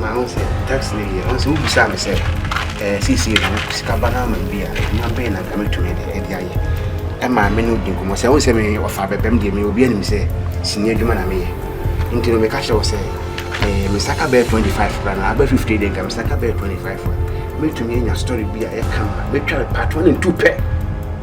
Na ɔn sɛ taxi no deɛ ɔn sɛ wobisaa me sɛ ɛɛ sisi no sika ba no ama bi a adwuma bɛn na nka metumi de ɛde ayɛ ɛma me no di nkɔmɔ sɛ ɔn sɛ me ɔfa abɛbɛm deɛ me obi anim sɛ sini adwuma na meyɛ nti no meka kyerɛ wo sɛ ɛɛ me saka bɛyɛ 25 kora na abɛ 50 deɛ nka me saka bɛyɛ 25 a metumi anya story bi a ɛka ma metwa me part one and two pɛ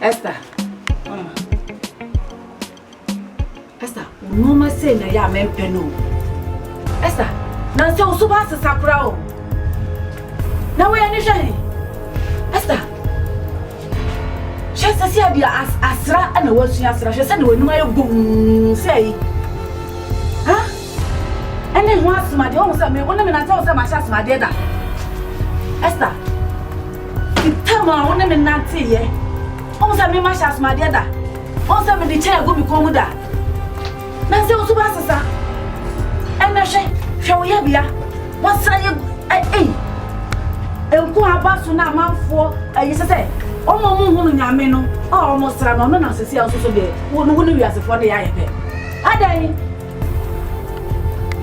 Esther, mama. Esther, nneɛma sei na ɛyɛ a mɛmpɛ no o. Esther, nansɛ wo so ba asesa kora o. Na woyɛ ne hwɛ he? Esther, hwɛ sɛ sɛ ade asra na woasua asra hwɛ sɛ na w'anim ayɛ bom sɛ yi. Ɛne ho asɛm adeɛ ɔhu sɛ me wo ne me nante wo sɛ mahyɛ asɛm adeɛ da Esther ti tam a wo ne me nante yɛ ɔhu sɛ me mahyɛ asɛm adeɛ da ɔhu sɛ me de kyɛn agu me kɔn mu da na sɛ nso ba sesa ɛnɛ hwɛ hwɛ wo yɛ bia wɔsra yɛ ɛyi nko aba so na amanfoɔ ɛyi sɛ sɛ ɔmo ɔmo hunu nyame no a ɔmo sra no ɔno na sisi a ɔsoso deɛ wo no wo ne wiasefoɔ ne yɛ ayɛ pɛ adɛn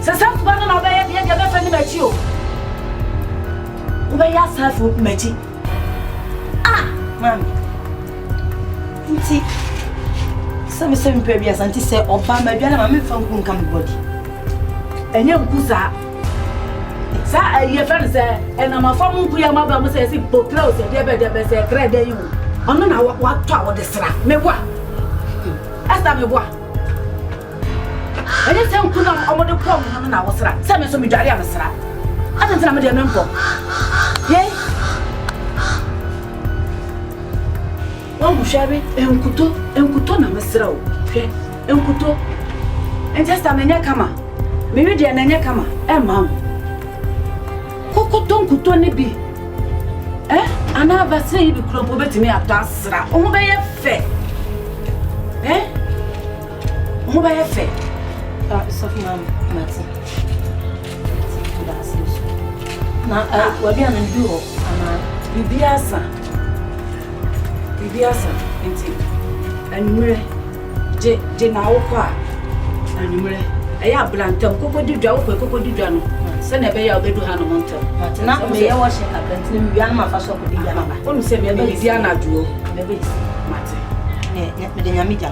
Sɛ saa suban no na wobɛyɛ deɛ deɛ mɛfa ni m'akyi o. Wobɛyɛ asaafo m'akyi. Ah, maame. Nti, sɛ me sɛ mepɛ biasa nti sɛ ɔba m'adwa no ma memfa nku nka me bɔdi. Ɛnyɛ nku saa. Saa ayi ɛfɛ no sɛ ɛnam afa mu nku yɛ ma ba mu sɛ ɛsi bokra o sɛ deɛ bɛ deɛ bɛ sɛ ɛkrɛ dɛ yi o. Ɔno na watɔ a wɔde sra. Meboa. Ɛsta meboa. Ɛnyɛ sɛ nku no a wɔde poa mo ho no na wosra, sɛ me nso midware a mesra. Adɛn nti na me deɛ mempɔ? Yei. Wahu, hwɛ we, nkutoo, nkutoo na mesra o, hwɛ, nkutoo. Nti sista no nyɛ kama, me we deɛ na ɛnyɛ kama mma wo. Kɔkɔtɔ nkutoo no bi, eh, anaa vaseline yi bi kura mpo wobɛtumi atɔ asra, wo ho bɛyɛ fɛ, eh. Mo bɛyɛ fɛ. Ah, sɔfo ma mate. Daase so. Na ah, wadua no bi wɔ anaa. Bibi asa. Bibi asa. Nti anwummerɛ gye gye na awokɔ a anwummerɛ ɛyɛ abena ntam koko di dwa wokɔ koko di dwa no sɛnea ɛbɛyɛ a wobɛdu ha no ho ntam. Mate na meyɛ wɔhyɛ kakra nti na mewia no mafa so akɔdi dwa no ba. Wonim sɛ meyɛ biribi anadwoɔ. Mate. Mede nyame gya.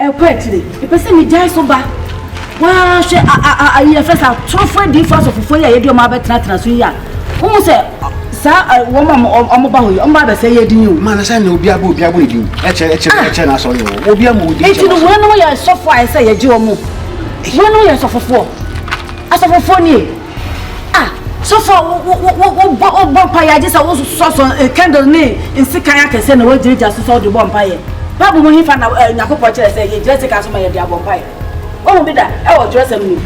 Ɛkɔ akyire mepɛ sɛ megyae so ba waa hwɛ ayi yɛfrɛ sɛ atorofo adiifo asɔfofo yi a yɛde wɔn abɛtenatena so yi a wohu sɛ saa wɔn a wɔba hɔ yi wɔn ba abɛsɛ yɛ din o. maana sɛ na obi abɔ obi abɔ ne din ɛkyɛ ɛkyɛ ah! ɛkyɛ n'asɔre wɔ obi ama odi nti no wɔn yɛ asɔfo a ɛsɛ yɛgye wɔn wɔn yɛ asɔfofoɔ asɔfofoɔ nie. Ah, sɔfo a wo wo wo wo bɔ wo bɔ mpaeɛ agye sɛ wo sɔsɔ eh, candle ne nsekan akɛseɛ na wagyinagyina so sɛ wode bɔ mpaeɛ. Bible mu hefa na eh, Nyankopɔn kyerɛ sɛ yɛgyina sekan so ma yɛde abɔ mpaeɛ? Wohu bi da ɛwɔ twerɛsɛm no mu?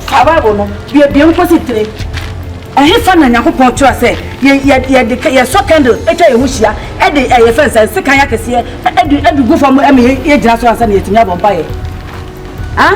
Fa Bible no biebie mu kɔsi tire. Ɛhefa na Nyankopɔn kyerɛ sɛ yɛ yɛ yɛde ka- yɛsɔ candle atwa yɛn ho hyia ɛde ɛyɛ fɛn sɛ nsekan akɛseɛ ɛde ɛde gu fam ɛma yɛ- yɛgyina so ansa na yɛtumi abɔ mpaeɛ? Ah?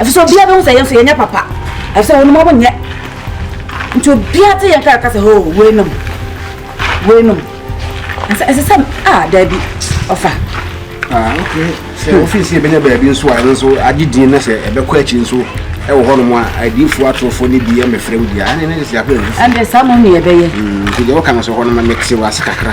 Efisɛ obiara behu sɛ yɛn nso yɛnyɛ papa, efisɛ wɔn mma wonyɛ. Nti obiara te yɛn nka ɛka sɛ, hoo, weinom, weinom. Ɛsɛ ɛsɛ sɛ, a, daabi, ɔfa. Ah, okay. Sɛ ofie si ebɛnya baabi nso a, ɛno nso agye din na sɛ ɛbɛkɔ akyi nso ɛwɔ hɔnom a, adiifoɔ atorofoɔ no bi ɛmɛfrɛ wo bi a, ɛne ne de sɛ akɔ ɛmfifo. Ɛnde saa mo ne ɛbɛyɛ. Nti deɛ wɔka no so hɔ no ma mete wɔ ase kakra.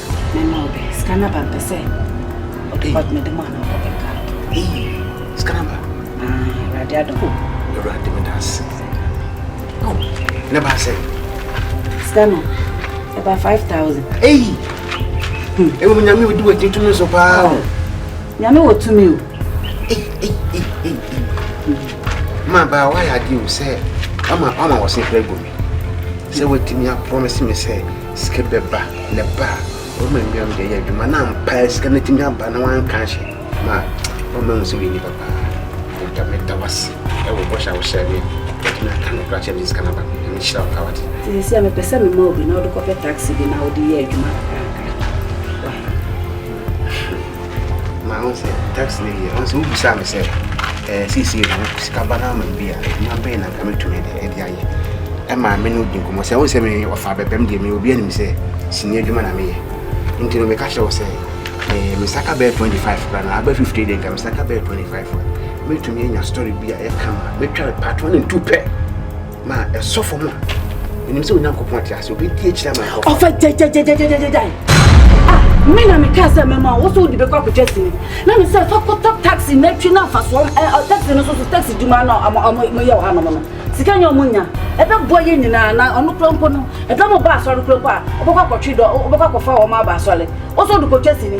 mɛma ɔbɛ sika no aba mpɛ sɛ ɔde ba mede ma no ɔbɛka sika no aba awurade adom awurade meda ase ne ba sɛ sika no ɛba 5000 ei ɛwɔ mu nyame wodi wadi tumi so paa o nyame wɔ tumi o ma baa woayɛ adeɛ o sɛ ama wɔ se frɛ gu me sɛ watumi aprɔmese me sɛ Sika bɛ ba, na ɛba a, wɔma nnuam de yɛ adwuma, na ampa sika no tumi aba na wɔanka anhyɛ mu a, wɔma ehu sɛ woyɛ nipa paa. Agya, meda wase ɛwɔ bɔhyɛ a wohyɛɛ me a, watumi aka no koraa kyerɛ me sika no aba. Nyame nhyira wo paa wate. Sisi a mepɛ sɛ mema obi na ɔde kɔpɛ taxi bi na ɔde yɛ adwuma kakraka. Why? Na ɔn sɛ tax lady yɛ ɔn sɛ wobisaa me sɛ ɛɛ sisi ɛdi hɔ sika ba na ama bi a adwuma bɛyɛ na nka mɛtumi de ɛde ayɛ ɛma me no di nkɔmɔ sɛ ɔn sɛ me ɔfa bɛbɛm deɛ me obi anim sɛ sini adwuma na meyɛ nti no meka kyerɛ wo sɛ ɛɛ me saka bɛyɛ 25 kora na aba 50 deɛ nka me saka bɛyɛ 25 a mɛtumi anya story bi a ɛka ma mɛtwa patro ne ntu pɛ ma ɛsɔ fam a ɛnim sɛ onyankopɔn ate ase obɛdi akyiri ama nkɔ ɔfa gyagyagyagyagyagyagyae ah me na mekaa sɛ mɛma wo sɛ wode bɛkɔ akɔtwa sini na me sɛ fa kɔtɔ taxi na atwi no afasoɔ taxi no so so taxi dwuma no moyɛ wɔ hanom no sika nyɛ ɔmo nya ɛbɛboa yɛ nyinaa na ɔno kora mpo no ɛdɔ mo ba asɔre kora mpo a wobɛkɔ akɔtwe dɔ wobɛkɔ akɔfa wɔn aba asɔre wo sɛ wode kɔtwa sini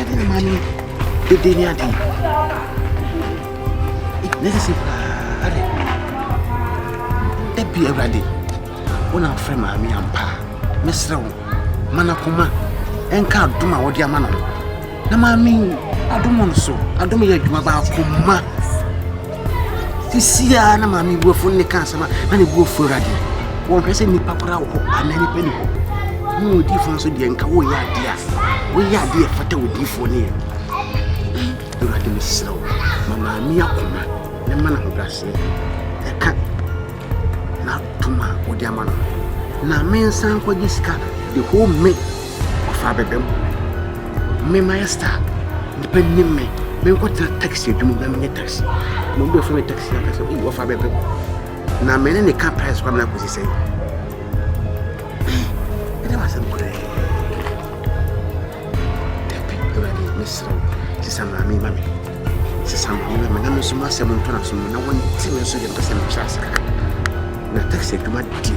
Ade na maa no dede ne ade. Ne sisi paa ade. Da bi awurade, wo na afrɛ maame ampa. Mɛsrɛ wo, ma no akoma ɛnka adom a wɔde ama no ho. Na maame adom no so, adom yɛ adwuma baako ma. Sisiaa na maame bu afu ne ka asɛm a na ne bu afu awurade wɔnhwɛ sɛ nnipa koraa wɔ hɔ anaa nnipa ni hɔ ne odiifoɔ nso deɛ nka woyɛ adeɛ a woyɛ adeɛ a ɛfata odiifoɔ ne yɛ awurade mesrɛ wo ma maame akoma ne ma no ahobraseɛ ɛka n'atom a wode ama no na mensan nkɔgye sika de home Ɔfaa bɛbɛ mu. Me mayɛ star. Nnipa nim me. Menkɔtena taxi adwuma mu na menyɛ taxi. Na obi bɛfrɛ me taxi na ɔka sɛ, ei, ɔfaa bɛbɛ mu. Na me ne ne ka price kora me na akɔsi sɛn. Ɛdɛ wɔ asɛm korɛ. Dabi, Awurade, mesrɛ wo, sesa maame ma me. Sesa maame ma me na me nso masɛ mo ntɔnaso mu na wɔnte me nso yɛ mpɛ sɛ mekyerɛ ase kakra. Na taxi adwuma deɛ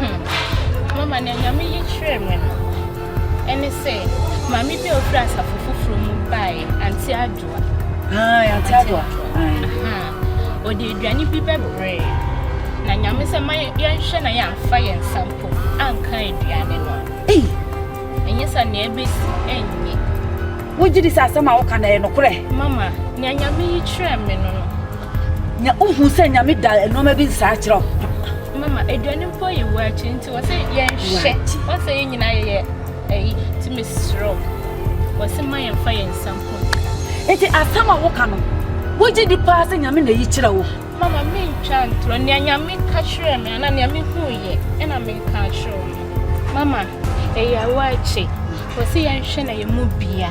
Hmm. Mama, nea Nyame yi kyerɛɛ me no, ɛne sɛ maame bi a ofiri asafo foforɔ mu baeɛ, Ante Adoa. Ae, Ante Adoa. Ɔde aduane bi bɛbrɛ na Nyame sɛ ma yɛnhwɛ na yɛamfa yɛn nsa mpo anka aduane no. Ei! Ɛnyɛ sɛ nea ɛbɛsi ɛnyɛ. Wogye di sɛ asɛm a woka na ɛyɛ nokorɛ? Mama, nea Nyame yi kyerɛɛ me no no, Na wohu sɛ Nyame da nnoɔma bi nsaa kyerɛ wo. Mama, aduane mpo yɛ wo akyi nti wɔ sɛ yɛnhwɛ. Wɔ sɛ yɛn nyinaa yɛyɛ ayi nti mesrɛ wo. Wɔ sɛ ma yɛmfa yɛn nsa mpo. Nti asɛm a woka no, wogye di paa sɛ Nyame na ayi kyerɛ wo? Mama, mentwa ntorɔ. Nea Nyame ka kyerɛɛ me anaa nea mehuiɛ ɛna meka akyerɛ wo no. Mama, ɛyɛ wo akyi. Wɔ sɛ yɛnhwɛ na yɛn mu bia.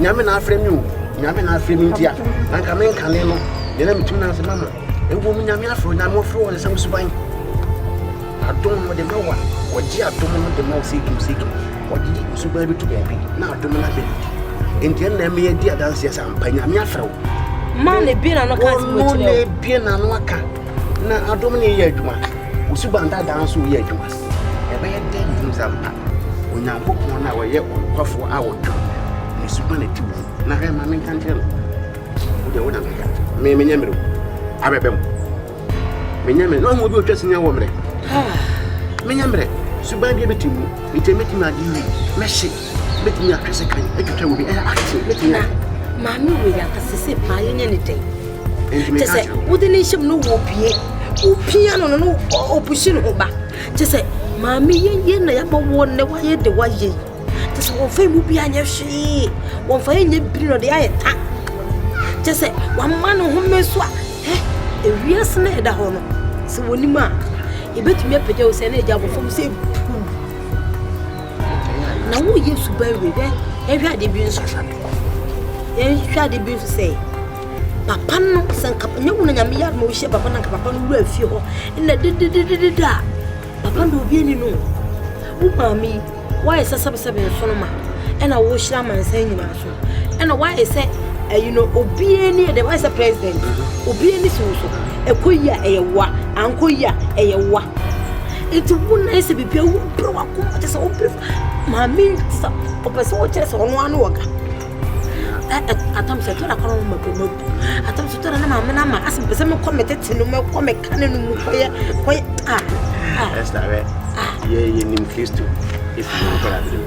Nyame na afrɛ me o, Nyame na afrɛ me ntia, na nka me nkane no, deɛ na metumi na ase mama. Ɛwɔ mu Nyame afrɛ o, Nyame ɔfrɛ wɔ ne nsɛm suban. Adom no de ma wa, wɔgye adom no de ma wo sɛ kim sɛ kim. Wɔde di suban bi to baabi na adom no abɛ no di. Nti ɛnna ɛmɛ yɛdi adanseɛ sɛ ampa Nyame afrɛ wo. Ma ne bie na no ka ase mo kyerɛ o. Wɔn ne bie na no aka na adom no yɛ adwuma. Osuban dadaa nso yɛ adwuma. Ɛbɛyɛ dɛn ahunu sɛ ampa Onyankopɔn no a ɔyɛ ɔnokwafoɔ a ɔtwa ne suban ati wɔ mu? Na hwɛ, ma menka nkyerɛ no, wo deɛ wo na meka, me menyɛ mmerɛ mu, abɛbɛ mu, menyɛ mmerɛ, na ɔmo obi ɔtwa sinya wɔ mmerɛ, menyɛ mmerɛ, suban bi abɛti mu, nti mɛtumi ade yi, mɛhye. mɛtumi atwe sekan atwitwa mu bi ɛyɛ akye mɛtumi ayɛ maame wei yɛafa sɛ sɛ paa yɛnyɛ ne dɛn kyɛ sɛ wode ne nhyɛm no wɔpie wopia no no no ɔpuhye ne ho ba kyɛ sɛ maame yɛyɛ na yɛama woɔ nnɛ woayɛ de woayɛ yi kyɛ sɛ wɔmfa mu bi anyɛ hwee wɔmfa yɛnyɛ biri no de ayɛ ta kyɛ sɛ wama ne home so a ewiase no ɛda hɔ no sɛ wɔnim a yɛbɛtumi apagya wo sɛ na agya abɔfam sɛ Na wo Yesu ba wie dɛ yɛhwɛ ade bi nso hwɛ do. Yɛhwɛ ade bi nso sɛ papa no sɛ nka nyɛ wo na nyame yɛ adoma wohyia papa no nka papa no wura fie hɔ na dedededede a papa na obi ani no wo maame yi woayɛ sɛ sɛbesɛbe nso no ma ɛna wohyira amansan nyinaa so ɛna wayɛ sɛ ɛyi no obiara ni ɛdɛ wayɛ sɛ president mm-hmm. obiara ni si wo so ɛkɔ yi a ɛyɛ wa ankɔ yi a ɛyɛ wa nti wo nan sɛ biribi a wopere wakoma kyɛ sɛ wopere maame te sɛ ɔpɛ sɛ wokyerɛ sɛ ɔno ano ɔga atam sɛ tɔra kɔnɔ mu mako mu bu atam sɛ tɔra na maame na ama asɛ mpɛ sɛ mekɔ me tete no mɛkɔ meka ne no mu kɔyɛ kɔyɛ a ɛsɛ dɛ yɛ yɛnim kristo ɛfiri no kɔra bere mu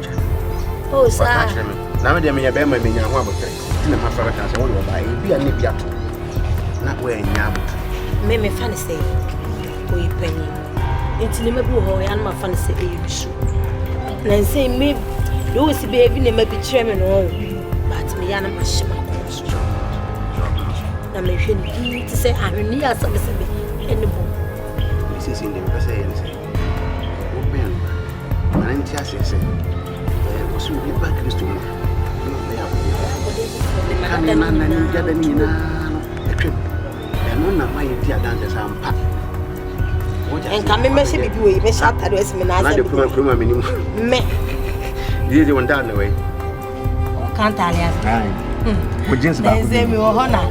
Oh, sir. Ɔka kyerɛ me. Na me deɛ meyɛ bɛrima menya ho abotire. Nti na mafa bɛka sɛ wode ɔbaa ɛyɛ bi a ne bi ato. Na woanya abotire. Me mefa ne sɛ ɔyɛ panyin. Nti ne ma bi wɔ hɔ ɔyɛ no mafa ne sɛ ɛyɛ nusu. Na nsɛ me de wo si baabi ne ma bi kyerɛ me no ɔwo. But meya no mahyɛ makɔn so. Na mehwɛ ne bi te sɛ ahwenni asɛmesɛme ɛne bɔ. Sisi ndeɛ mepɛ sɛ ɛyɛ ne sɛ. Wobɛn no a, ma no nte aseɛ sɛ, ɛɛ, wɔsɛ obi ba Kristo mu a, na ɔbɛyɛ akodeɛ foforɔ. Kane na na ne gyada no nyinaa no atwam. Ɛno na ma yɛdi adanse sɛ ampa. Nka me mɛhyɛ biribi wɔ yi, mɛhyɛ atade asi me n'asɛm. Na de kuma kuma m'anim. Me. Yie de wɔn da na wei. kantale ase o jeans ba ko bi mi wɔ hɔ na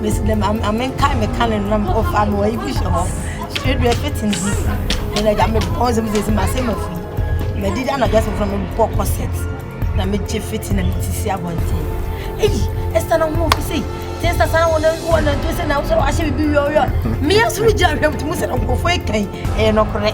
mi si dɛm ame nka mi ka ne nam o fa mi wɔ ibi hyɛ hɔ straight way fit n di ɛna gya mi bɔ nsɛm sɛ si ma se ma fi ma di da na gya sɛ fura mi bɔ corset na mi gye fit na mi ti si abɔnten eyi ɛsa na ho fi sɛ sɛ ɛsa sa na wɔn wɔn na nto sɛ na wɔsɛ wɔahyɛ bibi wiɔ wiɔ mmea so gyina hwɛ mu ti mu sɛ nkɔfoɔ ekan ɛyɛ nɔkorɛ.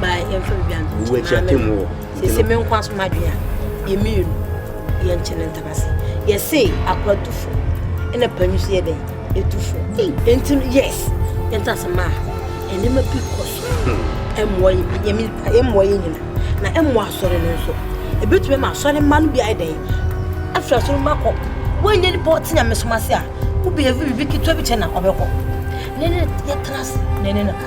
ma yɛmfa biribi ano wo akyi atem wɔ sese me nkwa so madwea yɛmmienu yɛnkyɛ ne ntaba se yɛse akora tufo ɛna panyi so yɛ dɛn ɛtufo ɛnti no yes yɛnta se maa ɛnema bi kɔ so ɛmmoa yɛmi ɛmmoa yɛ nyina na ɛmmoa asɔre no nso ɛbɛtumi ma asɔre mma no bi ayɛ dɛn afiri asɔre mma kɔ woanyɛ nipa ɔte nyame som ase a wobɛyɛ biribi ketewa bi kyɛ na ɔbɛkɔ ne ne yɛtena ase ne ne no ka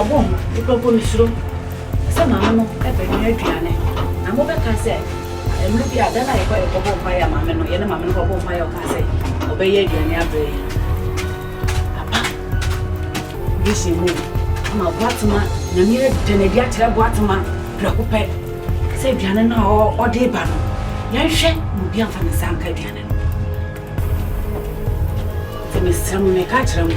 Ɔbɔ ho, Nnipakuo no suro sɛ maame no bɛnoa aduane, na mobɛka sɛ, Mmerɛ bi a, da no a yɛkɔɔ yɛkɔbɔɔ mpaeɛ a maame no, yɛne maame no kɔbɔɔ mpaeɛ a ɔkaa sɛ ɔbɛyɛ aduane abrɛ yɛn no, aba vision mu o, ama Boatema, Nyame ada no adi akyerɛ Boatema prɛko pɛ sɛ aduane no a ɔde reba no, yɛnhwɛ na obi amfa ne nsa anka aduane no. Nti mesrɛ mo, meka kyerɛ mo,